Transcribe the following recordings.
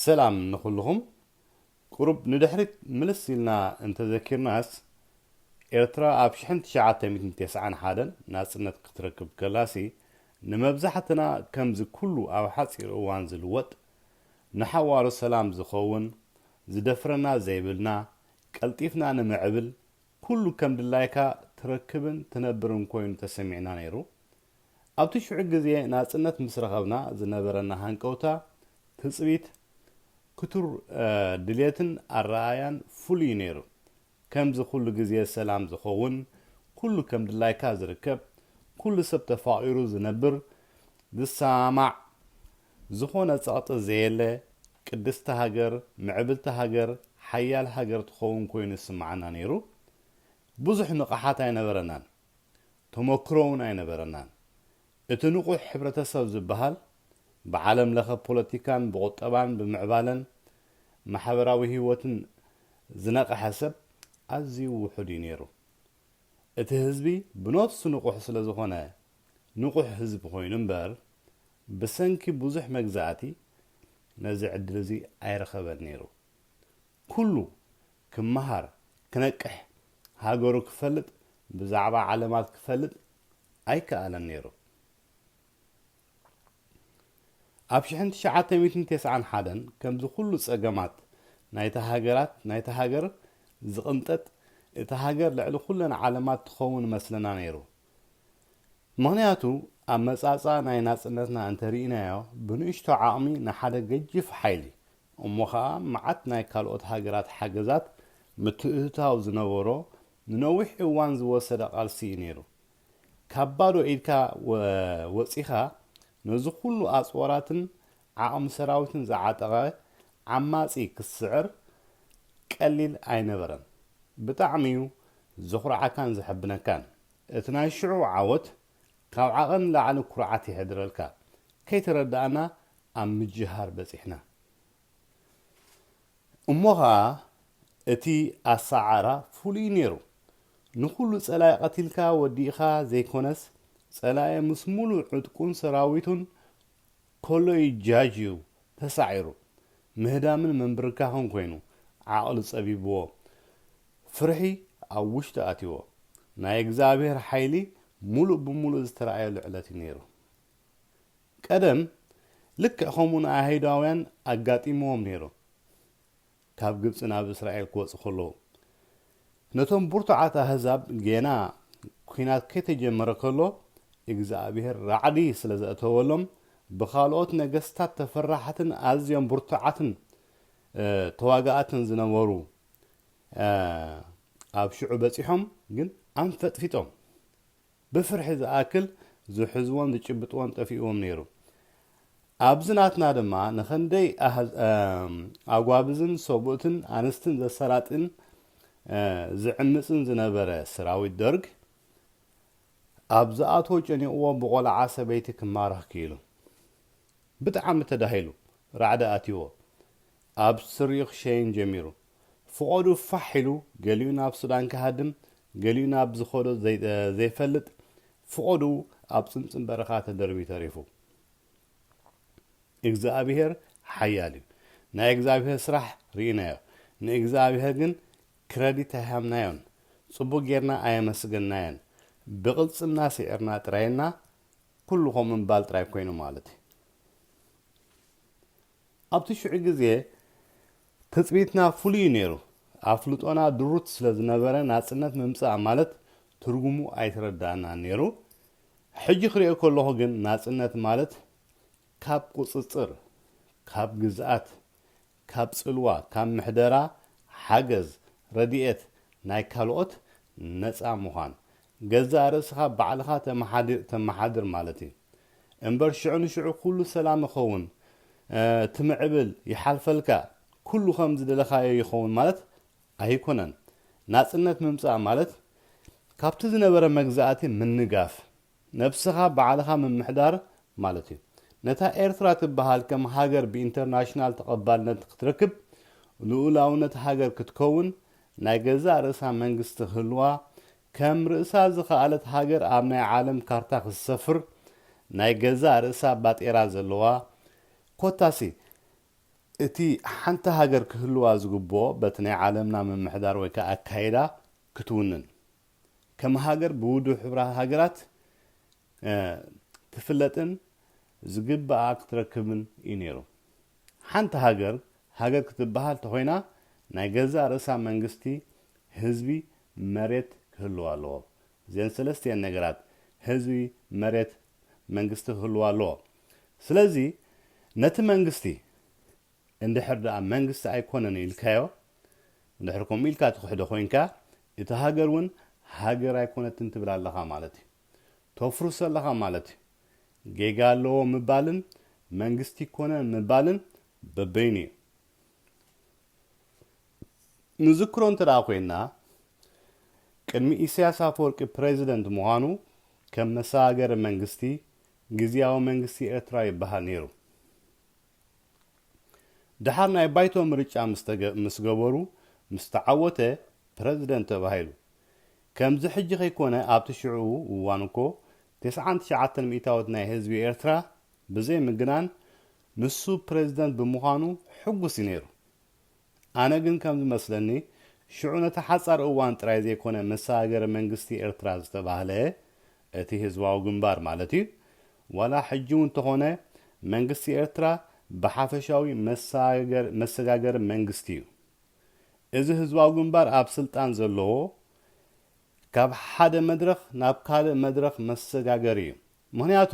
ሰላም ንኹሉኹም ቁሩብ ንድሕሪት ምልስ ኢልና እንተዘኪርናስ ኤርትራ ኣብ ሽሕን ትሽዓተ ሚእትን ተስዓን ሓደን ናጽነት ክትረክብ ከላሲ ንመብዛሕትና ከምዚ ኩሉ ኣብ ሓጺር እዋን ዝልወጥ ንሓዋሩ ሰላም ዝኸውን ዝደፍረና ዘይብልና ቀልጢፍና ንምዕብል ኩሉ ከምድላይካ ትረክብን ትነብርን ኮይኑ ተሰሚዕና ነይሩ ኣብቲ ሽዑ ግዜ ናጽነት ምስ ረኸብና ዝነበረና ሃንቀውታ፣ ትጽቢት፣ ክቱር ድሌትን ኣረኣእያን ፍሉይ እዩ ነይሩ። ከምዚ ኩሉ ግዜ ሰላም ዝኸውን፣ ኩሉ ከም ድላይካ ዝርከብ፣ ኩሉ ሰብ ተፋቒሩ ዝነብር፣ ዝሰማማዕ፣ ዝኾነ ጸቕጢ ዘየለ፣ ቅድስቲ ሃገር፣ ምዕብልቲ ሃገር፣ ሓያል ሃገር ትኸውን ኮይኑ ይስምዓና ነይሩ። ብዙሕ ንቕሓት ኣይነበረናን። ተሞክሮ እውን ኣይነበረናን። እቲ ንቑሕ ሕብረተሰብ ዝበሃል ብዓለም ለኸ ፖለቲካን ብቑጠባን ብምዕባለን ማሕበራዊ ህይወትን ዝነቐሐ ሰብ ኣዝዩ ውሑድ እዩ ነይሩ። እቲ ህዝቢ ብነፍሱ ንቑሕ ስለዝኾነ ንቑሕ ህዝቢ ኮይኑ እምበር ብሰንኪ ብዙሕ መግዛእቲ ነዚ ዕድል እዚ ኣይረኸበን ነይሩ። ኩሉ ክመሃር ክነቅሕ ሃገሩ ክፈልጥ ብዛዕባ ዓለማት ክፈልጥ ኣይከኣለን ነይሩ። ኣብ ሽሕን ትሽዓተ ሚእትን ቴስዓን ሓደን ከምዚ ኩሉ ጸገማት ናይታ ሃገራት ናይታ ሃገር ዝቕንጠጥ እታ ሃገር ልዕሊ ኩለን ዓለማት ትኸውን መስለና ነይሩ። ምኽንያቱ ኣመጻጽኣ ናይ ናጽነትና እንተ ርኢናዮ ብንእሽቶ ዓቕሚ ንሓደ ገጂፍ ሓይሊ እሞ ኸኣ መዓት ናይ ካልኦት ሃገራት ሓገዛት ምትእትታው ዝነበሮ ንነዊሕ እዋን ዝወሰደ ቃልሲ እዩ ነይሩ። ካብ ባዶ ኢድካ ወጺኻ ነዚ ኩሉ ኣጽዋራትን ዓቕሚ ሰራዊትን ዝዓጠቐ ዓማጺ ክትስዕር ቀሊል ኣይነበረን። ብጣዕሚ'ዩ ዘኹርዓካን ዘሐብነካን። እቲ ናይ ሽዑ ዓወት ካብ ዓቐን ንላዕሊ ኩርዓት የሕድረልካ። ከይተረዳእና ኣብ ምጅሃር በጺሕና። እሞ ኸኣ እቲ ኣሰዓዕራ ፍሉይ'ዩ ነይሩ። ንኹሉ ጸላኢ ቀቲልካ ወዲእኻ ዘይኮነስ፣ ጸላኢ ምስ ምሉእ ዕጥቁን ሰራዊቱን ኮሎይ ጃጅ እዩ ተሳዒሩ ምህዳምን ምንብርካኽን ኮይኑ ዓቕሊ ጸቢብዎ ፍርሒ ኣብ ውሽጡ ኣትይዎ ናይ እግዝኣብሄር ሓይሊ ሙሉእ ብሙሉእ ዝተራኣየሉ ዕለት እዩ ነይሩ ቀደም ልክዕ ከምኡ ንኣይሁዳውያን ኣጋጢምዎም ነይሩ ካብ ግብጺ ናብ እስራኤል ክወጹ ከለዉ። ነቶም ብርቱዓት ኣህዛብ ጌና ኲናት ከይተጀመረ ከሎ እግዝኣብሄር ራዕዲ ስለ ዘእተወሎም ብኻልኦት ነገስታት ተፈራሕትን ኣዝዮም ብርቱዓትን ተዋጋእትን ዝነበሩ ኣብ ሽዑ በጺሖም ግን ኣንፈጥፊጦም ብፍርሒ ዝኣክል ዝሕዝዎን ዝጭብጥዎን ጠፊእዎም ነይሩ። ኣብዚ ናትና ድማ ንኸንደይ ኣጓብዝን ሰብኡትን ኣንስትን ዘሰራጥን ዝዕምጽን ዝነበረ ሰራዊት ደርግ ኣብ ዝኣትዎ ጨኒቕዎ ብቖልዓ ሰበይቲ ክማረኽ ክኢሉ። ብጣዕሚ ተዳሂሉ ራዕዲ ኣትይዎ ኣብ ስሪኡ ክሸይን ጀሚሩ። ፍቖዱ ፋሕ ኢሉ ገሊኡ ናብ ሱዳን ክሃድም ገሊኡ ናብ ዝኸዶ ዘይፈልጥ ፍቖዱ ኣብ ጽምጽም በረኻ ተደርብዩ ተሪፉ። እግዝኣብሄር ሓያል እዩ። ናይ እግዝኣብሄር ስራሕ ርኢናዮ። ንእግዝኣብሄር ግን ክረዲት ኣይሃብናዮን። ጽቡቕ ጌርና ኣየመስገንናዮን። ብቕልጽምና ስዒርና ጥራይ እና ኩሉ ከምኡ ምባል ጥራይ ኮይኑ ማለት እዩ። ኣብቲ ሽዑ ግዜ ትጽቢትና ፍሉይ እዩ ነይሩ። ኣፍልጦና ድሩት ስለ ዝነበረ ናጽነት ምምጻእ ማለት ትርጉሙ ኣይተረድኣናን ነይሩ። ሕጂ ክርእዮ ከለኹ ግን ናጽነት ማለት ካብ ቁጽጽር፣ ካብ ግዝኣት፣ ካብ ጽልዋ፣ ካብ ምሕደራ፣ ሓገዝ፣ ረድኤት ናይ ካልኦት ነጻ ምዃን፣ ገዛእ ርእስኻ ባዕልኻ ተመሓዲር ተመሓድር ማለት እዩ እምበር ሽዑ ንሽዑ ኩሉ ሰላም ይኸውን ትምዕብል ይሓልፈልካ ኩሉ ከም ዝደለኻዮ ይኸውን ማለት ኣይኮነን ናጽነት ምምጻእ ማለት ካብቲ ዝነበረ መግዛእቲ ምንጋፍ ነብስኻ ባዕልኻ ምምሕዳር ማለት እዩ ነታ ኤርትራ ትበሃል ከም ሃገር ብኢንተርናሽናል ተቐባልነት ክትረክብ ልኡላውነት ሃገር ክትከውን ናይ ገዛእ ርእሳ መንግስቲ ክህልዋ፣ ከም ርእሳ ዝኸኣለት ሃገር ኣብ ናይ ዓለም ካርታ ክትሰፍር፣ ናይ ገዛእ ርእሳ ባጤራ ዘለዋ፣ ኮታሲ እቲ ሓንቲ ሃገር ክህልዋ ዝግብኦ በቲ ናይ ዓለምና ምምሕዳር ወይ ከኣ ኣካይዳ ክትውንን። ከም ሃገር ብውድብ ሕቡራት ሃገራት ትፍለጥን ዝግብኣ ክትረክብን እዩ ነይሩ። ሓንቲ ሃገር ሃገር ክትበሃል ተኾይና ናይ ገዛእ ርእሳ መንግስቲ፣ ህዝቢ፣ መሬት ክህልዋ ኣለዎ። እዚኤን ሰለስተ እየን ነገራት፣ ህዝቢ፣ መሬት፣ መንግስቲ ክህልዋ ኣለዎ። ስለዚ ነቲ መንግስቲ፣ እንድሕር ደኣ መንግስቲ ኣይኮነን ኢልካዮ፣ እንድሕር ከምኡ ኢልካ ትኽሕዶ ኮይንካ፣ እታ ሃገር ውን ሃገር ኣይኮነትን ትብል ኣለኻ ማለት እዩ። ተፍርሶ ኣለኻ ማለት እዩ። ጌጋ ኣለዎ ምባልን መንግስቲ ኣይኮነን ምባልን በበይኑ እዩ። ንዝክሮ እንተ ኮይንና ቅድሚ ኢሳያስ ኣፈወርቂ ፕረዚደንት ምዃኑ ከም መሰጋገሪ መንግስቲ ግዝያዊ መንግስቲ ኤርትራ ይበሃል ነይሩ። ደሓር ናይ ባይቶ ምርጫ ምስ ገበሩ ምስ ተዓወተ ፕረዚደንት ተባሂሉ። ከምዚ ሕጂ ከይኮነ ኣብቲ ሽዕኡ እዋን እኮ ተስዓን ትሽዓተን ሚእታዊት ናይ ህዝቢ ኤርትራ ብዘይ ምግናን ንሱ ፕረዚደንት ብምዃኑ ሕጉስ እዩ ነይሩ። ኣነ ግን ከም ዝመስለኒ ሽዑ ነቲ ሓጻር እዋን ጥራይ ዘይኮነ ምስ ሃገረ መንግስቲ ኤርትራ ዝተባህለ እቲ ህዝባዊ ግንባር ማለት እዩ ዋላ ሕጂ ውን ተኾነ መንግስቲ ኤርትራ ብሓፈሻዊ መሰጋገሪ መንግስቲ እዩ እዚ ህዝባዊ ግንባር ኣብ ስልጣን ዘለዎ ካብ ሓደ መድረኽ ናብ ካልእ መድረኽ መሰጋገሪ እዩ። ምኽንያቱ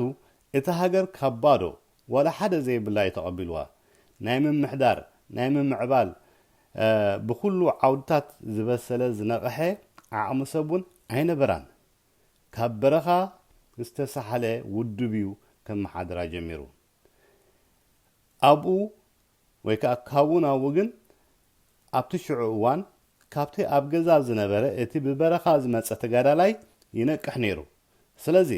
እታ ሃገር ካብ ባዶ ዋላ ሓደ ዘይብላ እዩ ተቐቢልዋ። ናይ ምምሕዳር፣ ናይ ምምዕባል ብኹሉ ዓውድታት ዝበሰለ ዝነቐሐ ዓቕሚ ሰብ እውን ኣይነበራን። ካብ በረኻ ዝተሳሕለ ውድብ እዩ ከመሓድራ ጀሚሩ። ኣብኡ ወይ ከኣ ካብኡ ናብኡ ግን ኣብቲ ሽዑ እዋን ካብቲ ኣብ ገዛ ዝነበረ እቲ ብበረኻ ዝመጸ ተጋዳላይ ይነቅሕ ነይሩ። ስለዚ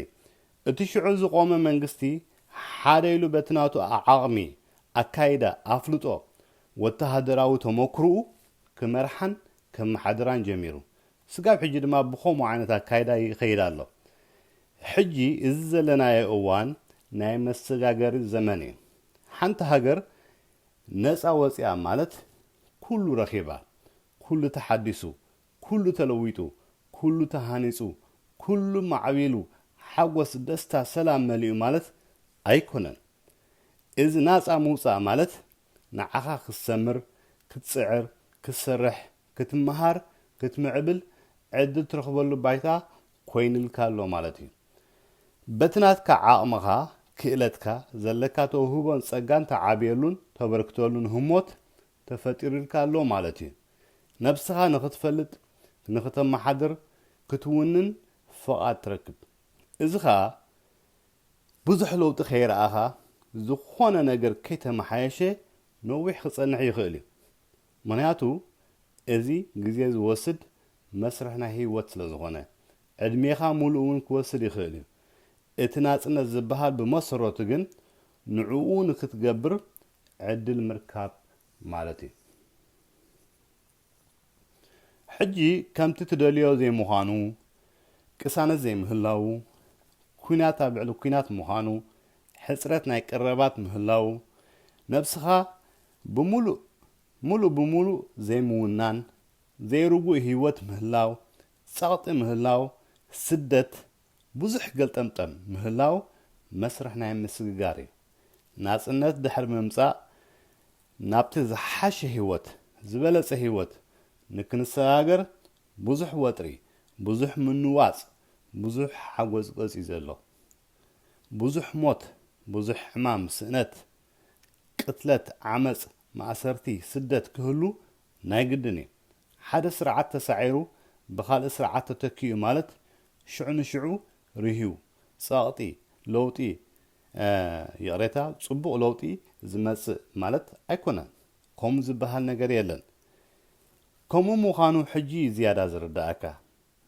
እቲ ሽዑ ዝቖመ መንግስቲ ሓደ ኢሉ በቲ ናቱ ዓቕሚ፣ ኣካይዳ፣ ኣፍልጦ፣ ወተሃደራዊ ተሞክርኡ ክመርሓን ከመሓድራን ጀሚሩ። ስጋብ ሕጂ ድማ ብኸምኡ ዓይነት ኣካይዳ ይኸይድ ኣሎ። ሕጂ እዚ ዘለናዮ እዋን ናይ መሰጋገሪ ዘመን እዩ። ሓንቲ ሃገር ነጻ ወጺኣ ማለት ኩሉ ረኺባ፣ ኩሉ ተሓዲሱ፣ ኩሉ ተለዊጡ፣ ኩሉ ተሃኒጹ፣ ኩሉ ማዕቢሉ፣ ሓጎስ፣ ደስታ፣ ሰላም መሊኡ ማለት ኣይኮነን። እዚ ናጻ ምውጻእ ማለት ንዓኻ ክትሰምር፣ ክትጽዕር፣ ክትሰርሕ፣ ክትመሃር፣ ክትምዕብል ዕድል ትረኽበሉ ባይታ ኮይንልካ ኣሎ ማለት እዩ። በቲ ናትካ ዓቕምኻ፣ ክእለትካ፣ ዘለካ ተውህቦን ጸጋን ትዓብየሉን ተበርክተሉን ህሞት ተፈጢሩልካ ኣሎ ማለት እዩ። ነብስኻ ንኽትፈልጥ፣ ንኽተመሓድር፣ ክትውንን ፍቓድ ትረክብ። እዚ ከኣ ብዙሕ ለውጢ ከይረኣኻ፣ ዝኾነ ነገር ከይተመሓየሸ ነዊሕ ክጸንሕ ይኽእል እዩ። ምኽንያቱ እዚ ግዜ ዝወስድ መስርሕ ናይ ህይወት ስለ ዝኾነ። ዕድሜኻ ሙሉእ እውን ክወስድ ይኽእል እዩ። እቲ ናጽነት ዝበሃል ብመሰረቱ ግን ንዕኡ ንክትገብር ዕድል ምርካብ ማለት እዩ። ሕጂ ከምቲ ትደልዮ ዘይምዃኑ፣ ቅሳነት ዘይምህላዉ፣ ኲናት ኣብ ልዕሊ ኲናት ምዃኑ፣ ሕጽረት ናይ ቀረባት ምህላዉ፣ ነብስኻ ብምሉእ ምሉእ ብምሉእ ዘይምውናን ዘይርጉእ ህይወት ምህላው፣ ጸቕጢ ምህላው፣ ስደት፣ ብዙሕ ገልጠምጠም ምህላው መስርሕ ናይ ምስግጋር እዩ። ናጽነት ድሕሪ ምምጻእ ናብቲ ዝሓሸ ህይወት፣ ዝበለጸ ህይወት ንክንሰጋገር ብዙሕ ወጥሪ፣ ብዙሕ ምንዋጽ፣ ብዙሕ ሓጎጽጎጽ እዩ ዘሎ። ብዙሕ ሞት፣ ብዙሕ ሕማም፣ ስእነት፣ ቅትለት፣ ዓመጽ፣ ማእሰርቲ፣ ስደት ክህሉ ናይ ግድን እዩ። ሓደ ስርዓት ተሳዒሩ ብኻልእ ስርዓት ተተኪኡ ማለት ሽዑ ንሽዑ ርህዩ፣ ጸቕጢ፣ ለውጢ፣ ይቕሬታ፣ ጽቡቕ ለውጢ ዝመጽእ ማለት ኣይኮነን። ከምኡ ዝበሃል ነገር የለን። ከምኡ ምዃኑ ሕጂ እዩ ዝያዳ ዝርደኣካ።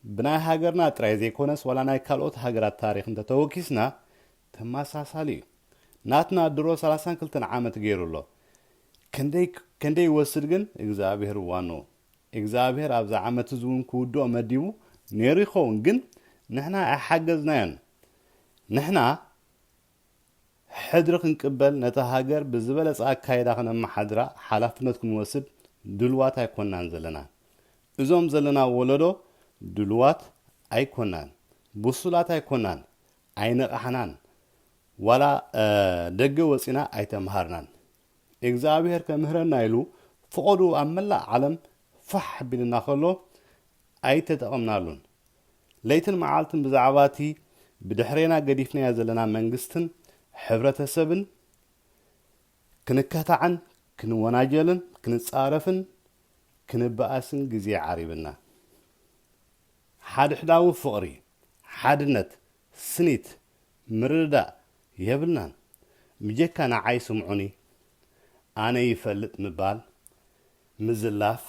ብናይ ሃገርና ጥራይ ዘይኮነስ ዋላ ናይ ካልኦት ሃገራት ታሪኽ እንተተወኪስና ተመሳሳሊ እዩ። ናትና ድሮ ሰላሳን ክልተን ዓመት ገይሩ ኣሎ። ከንደይ ከንደይ ይወስድ ግን እግዝኣብሄር ዋንኡ። እግዝኣብሄር ኣብዛ ዓመት እዚ እውን ክውድኦ መዲቡ ነይሩ ይኸውን ግን ንሕና ኣይሓገዝናዮን። ንሕና ሕድሪ ክንቅበል ነታ ሃገር ብዝበለጸ ኣካይዳ ክነመሓድራ ሓላፍነት ክንወስድ ድሉዋት ኣይኮናን ዘለና። እዞም ዘለና ወለዶ ድሉዋት ኣይኮናን፣ ብሱላት ኣይኮናን፣ ኣይነቓሕናን፣ ዋላ ደገ ወጺና ኣይተመሃርናን። እግዝኣብሄር ከምህረና ኢሉ ፍቐድኡ ኣብ መላእ ዓለም ፋሕ ቢሉና ከሎ ኣይተጠቐምናሉን። ለይትን መዓልትን ብዛዕባ እቲ ብድሕሬና ገዲፍናዮ ዘለና መንግስትን ሕብረተሰብን ክንከታዕን ክንወናጀልን ክንጻረፍን ክንበኣስን ግዜ ዓሪብና። ሓድሕዳዊ ፍቕሪ፣ ሓድነት፣ ስኒት፣ ምርድዳእ የብልናን። ብጀካ ንዓይ ስምዑኒ ኣነ ይፈልጥ ምባል፣ ምዝላፍ፣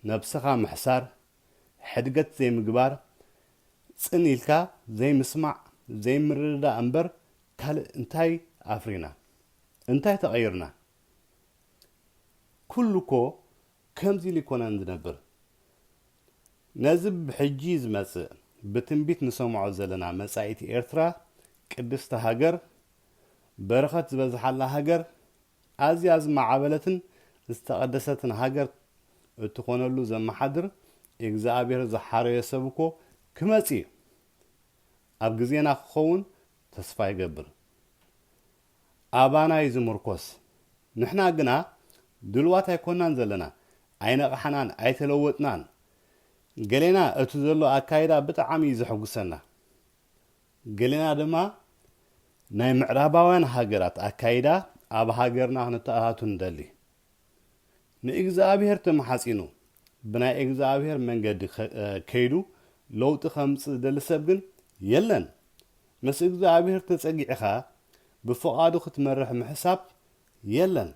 ነብስኻ ምሕሳር፣ ሕድገት ዘይምግባር፣ ጽን ኢልካ ዘይምስማዕ፣ ዘይምርድዳእ እምበር ካልእ እንታይ ኣፍሪና? እንታይ ተቐይርና? ኩሉ'ኮ ከምዚ ኢሉ ኣይኮነን ዝነብር። ነዚ ብሕጂ ዝመጽእ ብትንቢት ንሰምዖ ዘለና መጻኢት ኤርትራ ቅድስቲ ሃገር፣ በረኸት ዝበዝሓላ ሃገር፣ ኣዝያ ዝማዓበለትን ዝተቐደሰትን ሃገር እትኾነሉ ዘማሓድር እግዝኣብሄር ዝሓረዮ ሰብ እኮ ክመጽእ እዩ ኣብ ግዜና ክኸውን ተስፋ ይገብር ኣባና እዩ ዝምርኮስ ንሕና ግና ድልዋት ኣይኮናን ዘለና ኣይነቓሕናን ኣይተለወጥናን ገሌና እቱ ዘሎ ኣካይዳ ብጣዓሚ እዩ ዘሕጉሰና ገሌና ድማ ናይ ምዕራባውያን ሃገራት ኣካይዳ ኣብ ሃገርና ክነተኣታቱ ንደሊ። ንእግዝኣብሄር ተማሓጺኑ ብናይ እግዝኣብሄር መንገዲ ከይዱ ለውጢ ከምጽእ ዝደሊ ሰብ ግን የለን። ምስ እግዝኣብሄር ተጸጊዕኻ ብፍቓዱ ክትመርሕ ምሕሳብ የለን።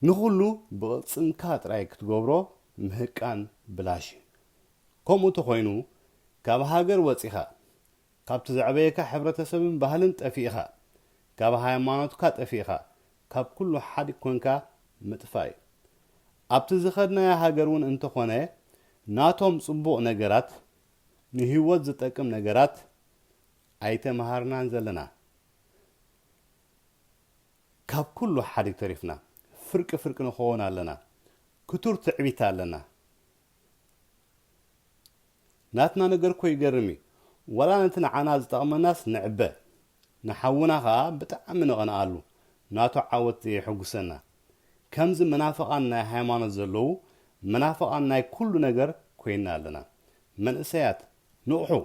ንኹሉ ብቕልጽምካ ጥራይ ክትገብሮ ምህቃን ብላሽ እዩ። ከምኡ ተኾይኑ ካብ ሃገር ወጺኻ፣ ካብቲ ዘዕበየካ ሕብረተሰብን ባህልን ጠፊእኻ፣ ካብ ሃይማኖትካ ጠፊእኻ፣ ካብ ኩሉ ሓዲግ ኮንካ ምጥፋእ እዩ። ኣብቲ ዝኸድናያ ሃገር እውን እንተኾነ ናቶም ጽቡቕ ነገራት፣ ንህይወት ዝጠቅም ነገራት ኣይተመሃርናን ዘለና። ካብ ኩሉ ሓዲግ ተሪፍና ፍርቂ ፍርቂ ንኮወን ኣለና ክቱር ትዕቢት ኣለና ናትና ነገር እኮ ይገርም እዩ ዋላ ነቲ ንዓና ዝጠቅመናስ ንዕበ ንሓውና ከኣ ብጣዕሚ ንቀንኣሉ ናቱ ዓወት ዘየሕጉሰና ከምዚ መናፍቃን ናይ ሃይማኖት ዘለዉ መናፍቃን ናይ ኩሉ ነገር ኮይና ኣለና መንእሰያት ንቅሑ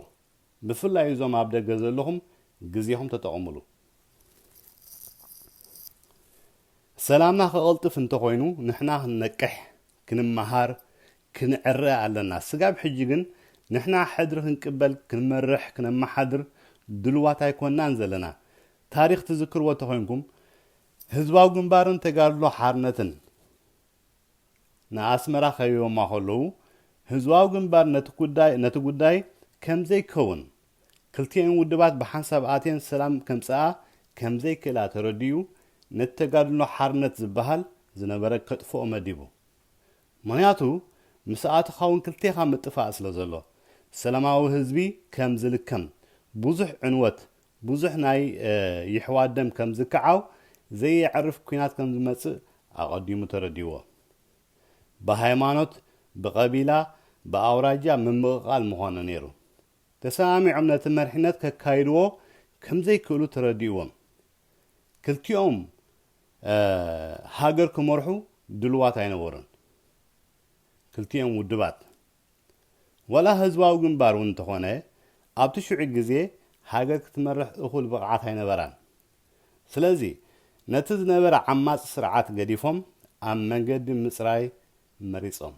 ብፍላይ እዞም ኣብ ደገ ዘለኹም ግዜኹም ተጠቐምሉ። ሰላምና ክቐልጥፍ እንተኾይኑ ንሕና ክንነቅሕ፣ ክንመሃር፣ ክንዕረ ኣለና። ስጋብ ሕጂ ግን ንሕና ሕድሪ ክንቅበል፣ ክንመርሕ፣ ክነመሓድር ድሉዋት ኣይኮናን ዘለና። ታሪኽ ትዝክርዎ ተኾይንኩም ህዝባዊ ግንባርን ተጋድሎ ሓርነትን ንኣስመራ ከቢቦማ ከለዉ፣ ህዝባዊ ግንባር ነቲ ጉዳይ ነቲ ጉዳይ ከም ዘይከውን፣ ክልቲኤን ውድባት ብሓንሳብ ኣትየን ሰላም ከምጽኣ ከም ዘይክእላ ተረዲኡ፣ ነቲ ተጋድሎ ሓርነት ዝበሃል ዝነበረ ከጥፍኦ መዲቡ። ምኽንያቱ ምስኣተኻ ውን ክልቴኻ ምጥፋእ ስለ ዘሎ፣ ሰላማዊ ህዝቢ ከም ዝልከም ብዙሕ ዕንወት ብዙሕ ናይ የሕዋት ደም ከም ዝከዓው፣ ዘየዕርፍ ኩናት ከም ዝመጽእ ኣቐዲሙ ተረዲእዎ። ብሃይማኖት፣ ብቐቢላ፣ ብኣውራጃ ምምቕቓል ምኾነ ነይሩ። ተሰማሚዖም ነቲ መሪሕነት ከካይድዎ ከም ዘይክእሉ ተረዲእዎም። ክልቲኦም ሃገር ክመርሑ ድሉዋት ኣይነበሩን። ክልቲኦም ውድባት። ዋላ ህዝባዊ ግንባር እውን እንተኾነ ኣብቲ ሽዑ ግዜ ሃገር ክትመርሕ እኹል ብቕዓት ኣይነበራን። ስለዚ ነቲ ዝነበረ ዓማጺ ስርዓት ገዲፎም ኣብ መንገዲ ምጽራይ መሪጾም።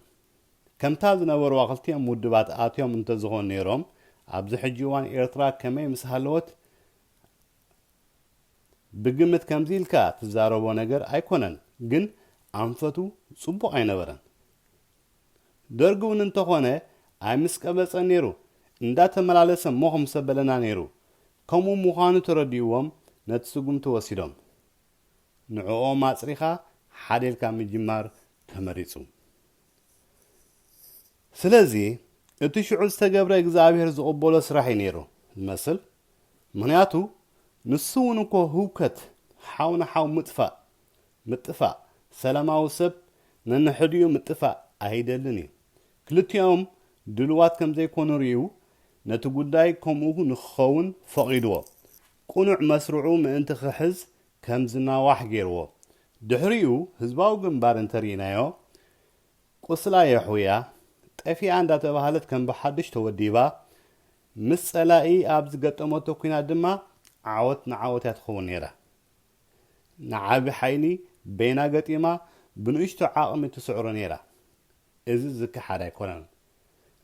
ከምታ ዝነበርዋ ክልቲኦም ውድባት ኣትዮም እንተዝኾኑ ነይሮም ኣብዚ ሕጂ እዋን ኤርትራ ከመይ ምስ ሃለወት? ብግምት ከምዚ ኢልካ ትዛረቦ ነገር ኣይኮነን ግን ኣንፈቱ ጽቡቕ ኣይነበረን። ደርግ ውን እንተኾነ ኣይምስቀበጸን ኔሩ እንዳተመላለሰ ሞኽ ምሰበለና ኔሩ ከምኡ ሙኻኑ ተረዲኡዎም ነቲ ስጉምቲ ወሲዶም ንዕኦም ኣጽሪኻ ሓደ ኢልካ ምጅማር ተመሪጹ ስለዚ እቲ ሽዑ ዝተገብረ እግዝኣብሄር ዝቕበሎ ስራሕ እዩ ኔሩ ዝመስል ምኽንያቱ ንሱ ውን እኮ ህውከት ሓው ንሓው ምጥፋእ ምጥፋእ ሰላማዊ ሰብ ነንሕድኡ ምጥፋእ ኣይደልን እዩ። ክልቲኦም ድሉዋት ከም ዘይኮኑ ርእዩ ነቲ ጉዳይ ከምኡ ንክኸውን ፈቒድዎ። ቅኑዕ መስርዑ ምእንቲ ክሕዝ ከም ዝናዋሕ ገይርዎ። ድሕሪኡ ህዝባዊ ግንባር እንተርኢናዮ ቁስላ የሕውያ ጠፊኣ እንዳተባህለት ከም ብሓዱሽ ተወዲባ ምስ ጸላኢ ኣብ ዝገጠመቶ ኲናት ድማ ዓወት ንዓወት እያ ትኸውን ነይራ። ንዓቢ ሓይሊ በይና ገጢማ ብንእሽቶ ዓቕሚ ትስዕሮ ነይራ። እዚ ዝከሓድ ኣይኮነን።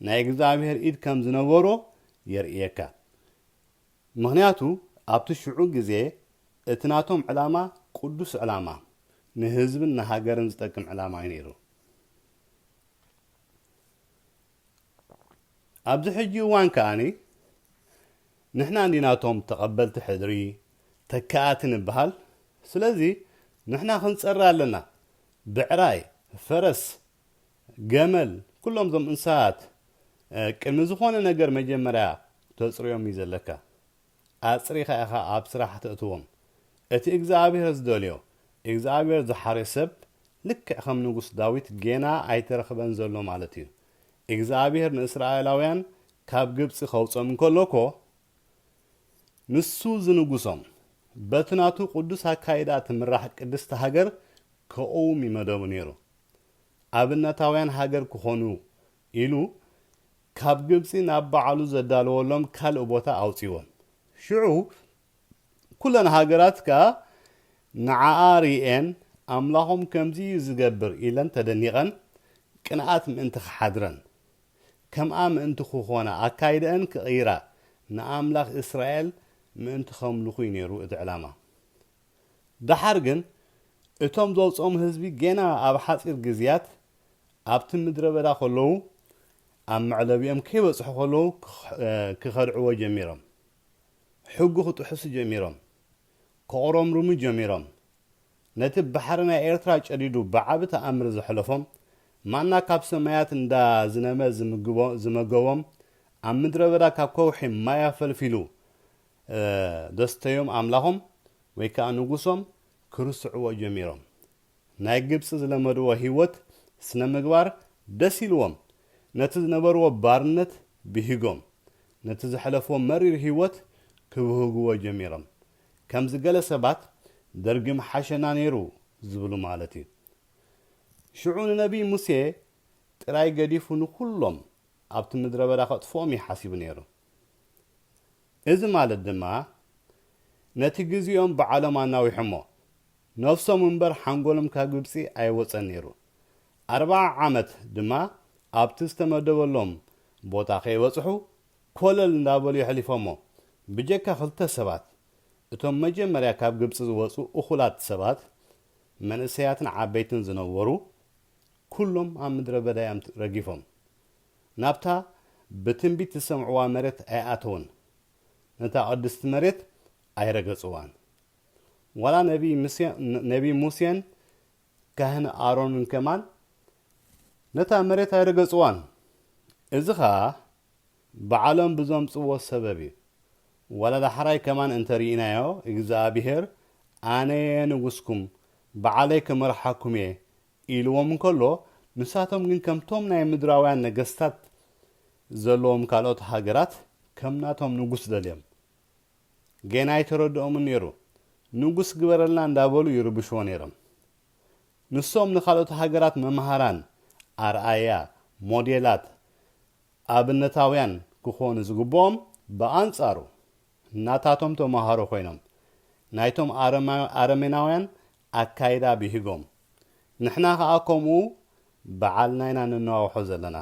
ናይ እግዚኣብሄር ኢድ ከም ዝነበሮ የርእየካ። ምኽንያቱ ኣብቲ ሽዑ ግዜ እቲ ናቶም ዕላማ ቅዱስ ዕላማ፣ ንህዝብን ንሃገርን ዝጠቅም ዕላማ እዩ ነይሩ። ኣብዚ ሕጂ እዋን ከኣ ንሕና እንዲና እቶም ተቐበልቲ ሕድሪ፣ ተካኣቲ ንበሃል፣ ስለዚ ንሕና ክንጸሪ ኣለና፣ ብዕራይ፣ ፈረስ፣ ገመል፣ ኩሎም እዞም እንስሳታት ቅድሚ ዝኾነ ነገር መጀመርያ ክተጽርዮም እዩ ዘለካ። ኣጽሪኻ ኢኻ ኣብ ስራሕ ተእትዎም። እቲ እግዝኣብሄር ዝደልዮ፣ እግዝኣብሄር ዝሓርዮ ሰብ ልክዕ ከም ንጉስ ዳዊት ጌና ኣይተረኽበን ዘሎ ማለት እዩ። እግዝኣብሄር ንእስራኤላውያን ካብ ግብጺ ከውጽኦም እንከሎ እኮ ንሱ ዝንጉሶም፣ በቲ ናቱ ቅዱስ ኣካይዳ ትምራሕ ቅድስቲ ሃገር ከቕውም እዩ መደቡ ኔሩ። ኣብነታውያን ሃገር ክኾኑ ኢሉ ካብ ግብጺ ናብ ባዕሉ ዘዳለወሎም ካልእ ቦታ ኣውጺእወን። ሽዑ ኩለን ሃገራት ከኣ ንዓኣ ርእየን ኣምላኾም ከምዚ እዩ ዝገብር ኢለን ተደኒቐን ቅንኣት ምእንቲ ክሓድረን ከምኣ ምእንቲ ክኾና ኣካይደኣን ክቕይራ ንኣምላኽ እስራኤል ምእንቲ ከምልኹ እዩ ነይሩ እቲ ዕላማ። ደሓር ግን እቶም ዘውጽኦም ህዝቢ ጌና ኣብ ሓጺር ግዝያት ኣብቲ ምድረበዳ ከለዉ ኣብ መዕለቢኦም ከይበጽሑ ከለዉ ክኸድዕዎ ጀሚሮም። ሕጉ ክጥሕሱ ጀሚሮም። ከቑረምርሙ ጀሚሮም። ነቲ ባሕሪ ናይ ኤርትራ ጨዲዱ ብዓቢ ተኣምር ዘሕለፎም ማና ካብ ሰማያት እንዳ ዝነመ ዝመገቦም ኣብ ምድረበዳ ካብ ከውሒ ማይ ኣፈልፊሉ ዘስተዮም ኣምላኾም ወይ ከኣ ንጉሶም ክርስዕዎ ጀሚሮም። ናይ ግብጺ ዝለመድዎ ህይወት ስነ ምግባር ደስ ኢልዎም ነቲ ዝነበርዎ ባርነት ብሂጎም ነቲ ዘሕለፍዎ መሪር ህይወት ክብህግዎ ጀሚሮም ከምዚ ገለ ሰባት ደርጊ ምሓሸና ነይሩ ዝብሉ ማለት እዩ ሽዑ ንነብይ ሙሴ ጥራይ ገዲፉ ንኹሎም ኣብቲ ምድረበዳ ከጥፍኦም እዩ ሓሲቡ ነይሩ። እዚ ማለት ድማ ነቲ ግዚኦም ብዓሎም ኣናዊሖሞ ነፍሶም እምበር ሓንጎሎም ካብ ግብጺ ኣይወጸን ነይሩ ኣርብዓ ዓመት ድማ ኣብቲ ዝተመደበሎም ቦታ ከይበጽሑ ኮለል እንዳበሉ የሕሊፎሞ ብጀካ ክልተ ሰባት እቶም መጀመርያ ካብ ግብጺ ዝወጹ እኹላት ሰባት መንእሰያትን ዓበይትን ዝነበሩ ኩሎም ኣብ ምድረበዳ እዮም ረጊፎም ናብታ ብትንቢት ዝሰምዕዋ መሬት ኣይኣተዉን፣ ነታ ቅድስቲ መሬት ኣይረገጽዋን። ዋላ ነብዪ ሙሴን ካህን ኣሮንን ከማን ነታ መሬት ኣይረገጽዋን። እዚ ኸኣ ባዕሎም ብዘምጽዎ ሰበብ እዩ። ዋላ ዳሕራይ ከማን እንተ ርኢናዮ፣ እግዚኣብሄር ኣነ'የ ንጉስኩም፣ ባዕለይ ክመርሓኩም እየ ኢልዎም እንከሎ፣ ንሳቶም ግን ከምቶም ናይ ምድራውያን ነገስታት ዘለዎም ካልኦት ሃገራት ከም ናቶም ንጉስ ደልዮም። ጌና ኣይተረድኦምን ነይሩ። ንጉስ ግበረልና እንዳበሉ ይርብሽዎ ነይሮም። ንሶም ንካልኦት ሃገራት መምሃራን፣ ኣርኣያ፣ ሞዴላት፣ ኣብነታውያን ክኾኑ ዝግብኦም ብኣንጻሩ ናታቶም ተምሃሮ ኮይኖም ናይቶም ኣረሜናውያን ኣካይዳ ቢሂጎም ንሕና ከኣ ኮምኡ ብዓልና ኢና ንነዋውሖ ዘለና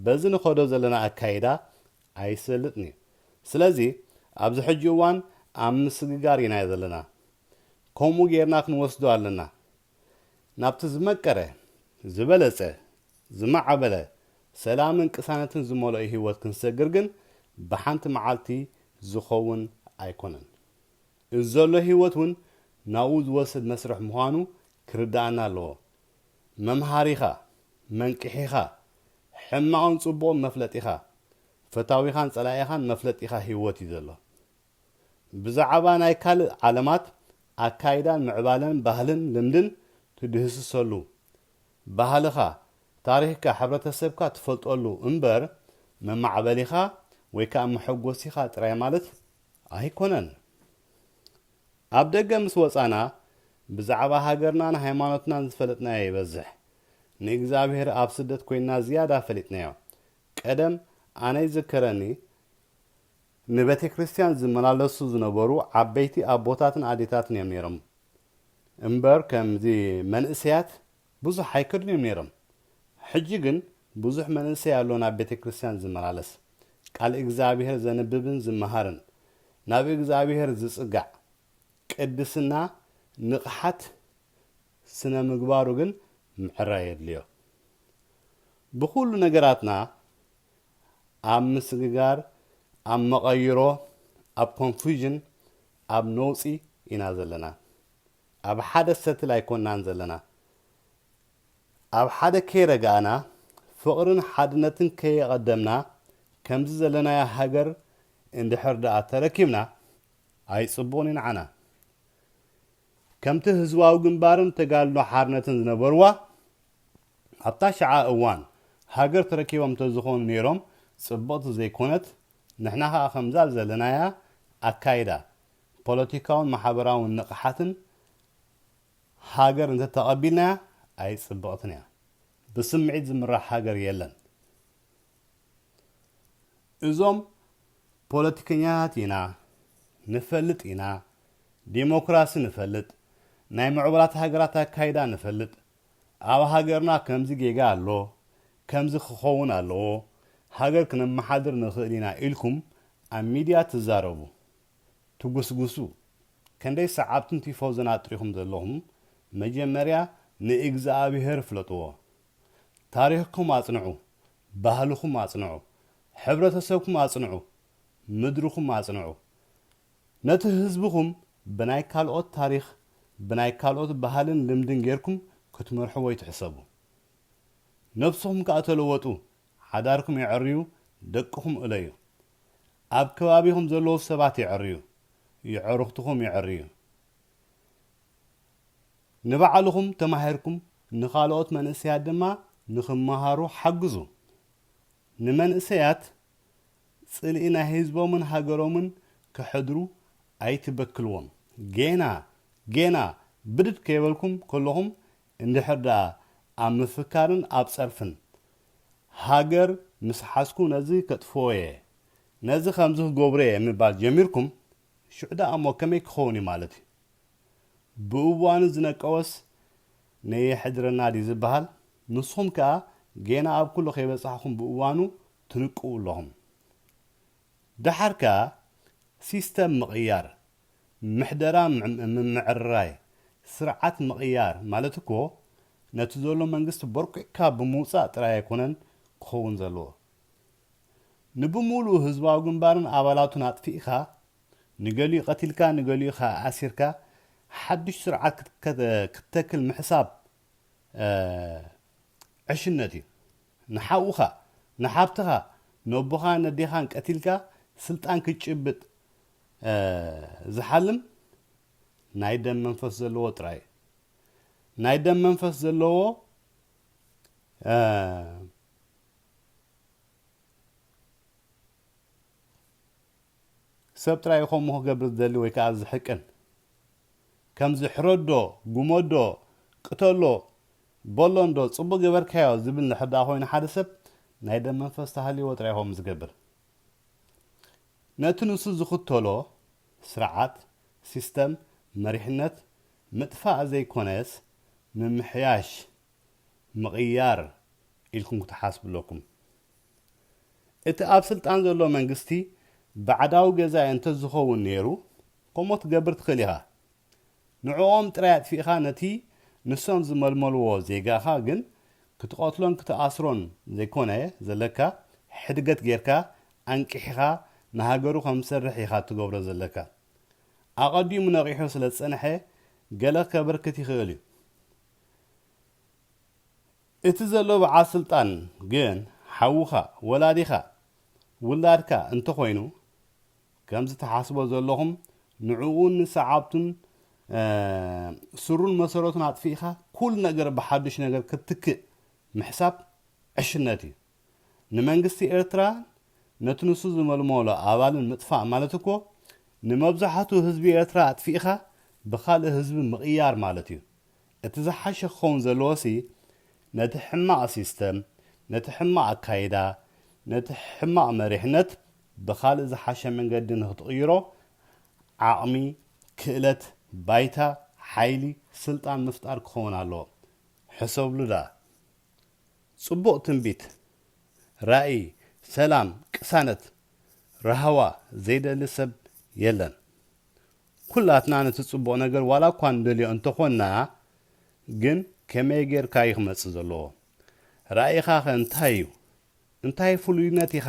በዚ ንከዶ ዘለና ኣካይዳ ኣይሰልጥን እዩ ስለዚ ኣብዚ ሕጂ እዋን ኣብ ምስግጋር ኢና ዘለና ኮምኡ ጌርና ክንወስዶ ኣለና ናብቲ ዝመቀረ ዝበለጸ ዝማዕበለ ሰላምን ቅሳነትን ዝመልኦ ሂወት ክንሰግር ግን ብሓንቲ መዓልቲ ዝከውን ኣይኮነን። እዚ ዘሎ ህይወት እውን ናብኡ ዝወስድ መስርሕ ምዃኑ ክርድኣና ኣለዎ። መምሃሪኻ፣ መንቅሒኻ፣ ሕማቕን ጽቡቕን መፍለጢኻ፣ ፈታዊኻን ጸላኢኻን መፍለጢኻ ህይወት እዩ ዘሎ። ብዛዕባ ናይ ካልእ ዓለማት ኣካይዳን ምዕባለን ባህልን ልምድን ትድህስሰሉ፣ ባህልኻ፣ ታሪኽካ፣ ሕብረተሰብካ ትፈልጠሉ እምበር መማዕበሊኻ ወይ ከኣ መሐጎሲኻ ጥራይ ማለት ኣይኮነን ኣብ ደገ ምስ ወጻና ብዛዕባ ሃገርናን ሃይማኖትናን ዝፈለጥናዮ ይበዝሕ ንእግዝኣብሄር ኣብ ስደት ኮይንና ዝያዳ ፈሊጥናዮ ቀደም ኣነ ይዝከረኒ ንቤተክርስትያን ዝመላለሱ ዝነበሩ ዓበይቲ ኣቦታትን ኣዴታትን እዮም ነይሮም እምበር ከምዚ መንእሰያት ብዙሕ ኣይከዱን እዮም ነይሮም ሕጂ ግን ብዙሕ መንእሰይ ኣሎ ናብ ቤተክርስትያን ዝመላለስ ቃል እግዝኣብሄር ዘንብብን ዝመሃርን ናብ እግዝኣብሄር ዝጽጋዕ ቅድስና ንቕሓት ስነምግባሩ ግን ምዕራይ የድልዮ ብኹሉ ነገራትና ኣብ ምስግጋር ኣብ መቐይሮ ኣብ ኮንፍዩዥን ኣብ ነውጺ ኢና ዘለና ኣብ ሓደ ሰትል ኣይኮናን ዘለና ኣብ ሓደ ከይረጋእና ፍቅርን ሓድነትን ከየቀደምና ከምዚ ዘለናያ ሃገር እንድሕር ድኣ ተረኪብና ኣይጽቡቅን ዩ ንዓና ከምቲ ህዝባዊ ግንባርን ተጋድሎ ሓርነትን ዝነበርዋ ኣብታ ሽዓ እዋን ሃገር ተረኪቦም ተዝኮኑ ኔሮም ጽብቅቲ ዘይኮነት ንሕና ከኣ ከምዛ ዘለናያ ኣካይዳ ፖለቲካውን ማሕበራውን ንቕሓትን ሃገር እንተተቐቢልናያ ኣይጽብቕትን እያ። ብስምዒት ዝምራሕ ሃገር የለን። እዞም ፖለቲከኛታት ኢና፣ ንፈልጥ ኢና፣ ዴሞክራሲ ንፈልጥ፣ ናይ ምዕቡላት ሃገራት ኣካይዳ ንፈልጥ፣ ኣብ ሃገርና ከምዚ ጌጋ ኣሎ ከምዚ ክኸውን ኣለዎ ሃገር ክነመሓድር ንኽእል ኢና ኢልኩም ኣብ ሚድያ ትዛረቡ ትጉስጉሱ ከንደይ ሰዓብትን ቲፎዞን ኣጥሪኹም ዘለኹም መጀመርያ ንእግዝኣብሄር ፍለጥዎ ታሪኽኩም ኣጽንዑ ባህልኹም ኣጽንዑ ሕብረተሰብኩም ኣጽንዑ ምድርኹም ኣጽንዑ ነቲ ህዝብኹም ብናይ ካልኦት ታሪኽ ብናይ ካልኦት ባህልን ልምድን ጌርኩም ክትመርሕዎ ኣይትሕሰቡ። ነብስኹም ከኣ ተለወጡ ሓዳርኩም የዐርዩ ደቅኹም እለዩ። ኣብ ከባቢኹም ዘለዉ ሰባት የዐርዩ የዕሩኽትኹም የዐርዩ። ንባዕልኹም ተማሂርኩም ንኻልኦት መንእሰያት ድማ ንኽመሃሩ ሓግዙ። ንመንእሰያት ጽልኢ ናይ ህዝቦምን ሃገሮምን ከሕድሩ ኣይትበክልዎም። ጌና ጌና ብድድ ከይበልኩም ከለኹም እንድሕር ደኣ ኣብ ምፍካርን ኣብ ጸርፍን ሃገር ምስ ሓዝኩ ነዚ ከጥፍኦ'የ፣ ነዚ ከምዚ ክገብሮ'የ ምባል ጀሚርኩም ሽዑ ደኣ'ሞ ከመይ ክኸውን'ዩ ማለት'ዩ። ብእዋኑ ዝነቀወስ ነየሕድረና ድዩ ዝበሃል? ንስኹም ከኣ ጌና ኣብ ኩሉ ከይበጻሕኹም ብእዋኑ ትንቅዉ ኣለኹም። ደሓር ከኣ ሲስተም ምቕያር፣ ምሕደራ ምምዕርራይ፣ ስርዓት ምቕያር ማለት እኮ ነቲ ዘሎ መንግስቲ ቦርቊቕካ ብምውጻእ ጥራይ ኣይኮነን ክኸውን ዘለዎ። ንብምሉኡ ህዝባዊ ግንባርን ኣባላቱን ኣጥፊእካ፣ ንገሊኡ ቀቲልካ ንገሊኡ ከኣ ኣሲርካ ሓድሽ ስርዓት ክትተክል ምሕሳብ ዕሽነት እዩ ንሓውካ ንሓብትካ ነቦካ ነዴካን ቀቲልካ ስልጣን ክትጭብጥ ዝሓልም ናይ ደም መንፈስ ዘለዎ ጥራይ ናይ ደም መንፈስ ዘለዎ ሰብ ጥራይ እዩ ከምኡ ክገብር ዝደሊ ወይ ከኣ ዝሕቅን። ከምዚ ሕረዶ፣ ጉመዶ፣ ቅተሎ፣ በሎ እንዶ ጽቡቕ ገበርካዮ ዝብል እንድሕር ደኣ ኮይኑ ሓደ ሰብ ናይ ደም መንፈስ ተሃልይዎ ጥራይ እዩ ከምኡ ዝገብር። ነቲ ንሱ ዝኽተሎ ስርዓት፣ ሲስተም፣ መሪሕነት ምጥፋእ ዘይኮነስ ምምሕያሽ፣ ምቕያር ኢልኩም ክትሓስቡ ኣለኩም። እቲ ኣብ ስልጣን ዘሎ መንግስቲ ባዕዳዊ ገዛኢ እንተዝኸውን ነይሩ ከምኡ ክትገብር ትኽእል ኢኻ። ንዕኦም ጥራይ ኣጥፊእኻ ነቲ ንሶም ዝመልመልዎ ዜጋኻ ግን ክትቐትሎን ክትኣስሮን ዘይኮነ ዘለካ ሕድገት ጌርካ ኣንቂሕኻ ንሃገሩ ከምዝሰርሕ ኢኻ እትገብሮ ዘለካ። ኣቐዲሙ ነቒሑ ስለዝጸንሐ ገለ ከበርክት ይኽእል እዩ። እቲ ዘሎ በዓል ስልጣን ግን ሓውኻ፣ ወላዲኻ፣ ውላድካ እንተኾይኑ ከምዚ ትሓስቦ ዘለኹም ንዕኡን ንሰዓብቱን ሱሩን መሰረቱን ኣጥፊእኻ ኩሉ ነገር ብሓዱሽ ነገር ክትትክእ ምሕሳብ ዕሽነት እዩ። ንመንግስቲ ኤርትራን ነቲ ንሱ ዝመልመሎ ኣባልን ምጥፋእ ማለት እኮ ንመብዛሕቱ ህዝቢ ኤርትራ ኣጥፊእኻ ብኻልእ ህዝቢ ምቕያር ማለት እዩ። እቲ ዝሓሸ ክኸውን ዘለዎሲ ነቲ ሕማቕ ሲስተም፣ ነቲ ሕማቕ ኣካይዳ፣ ነቲ ሕማቕ መሪሕነት ብኻልእ ዝሓሸ መንገዲ ንክትቕይሮ ዓቕሚ፣ ክእለት፣ ባይታ፣ ሓይሊ፣ ስልጣን ምፍጣር ክኸውን ኣለዎ። ሕሰብሉ ደኣ። ጽቡቕ ትንቢት፣ ራኢ፣ ሰላም፣ ቅሳነት፣ ራህዋ ዘይደሊ ሰብ የለን። ኩላትና ነቲ ጽቡቕ ነገር ዋላ እኳ ንደልዮ እንተ ኾንና ግን ከመይ ጌርካ እዩ ክመጽእ ዘለዎ? ራኢኻኸ እንታይ እዩ? እንታይ ፍሉይነት ኢኻ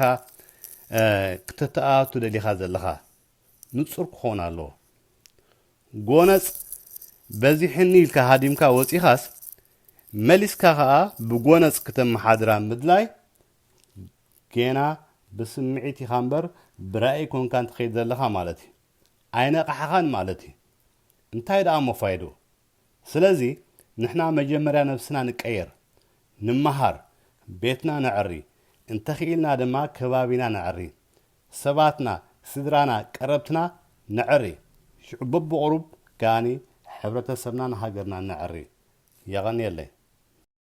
ክተተኣቱ ደሊኻ ዘለኻ? ንጹር ክኾን ኣለዎ። ጎነጽ በዚሕኒ ኢልካ ሃዲምካ ወጺኻስ መሊስካ ከኣ ብጎነጽ ክተመሓድራ ምድላይ ጌና ብስምዒት ኢኻ እምበር ብራኢ ኮንካ እንተኸይድ ዘለኻ ማለት እዩ። ኣይነቃሕኻን ማለት እዩ እንታይ ደኣ እሞ ፋይድኡ ስለዚ ንሕና መጀመርያ ነብስና ንቀየር ንመሃር ቤትና ነዕሪ እንተኺኢልና ድማ ከባቢና ነዕሪ ሰባትና ስድራና ቀረብትና ነዕሪ ሽዑ በብቁሩብ ከኣ ሕብረተሰብናን ሃገርናን ነዕሪ የቀንየለይ።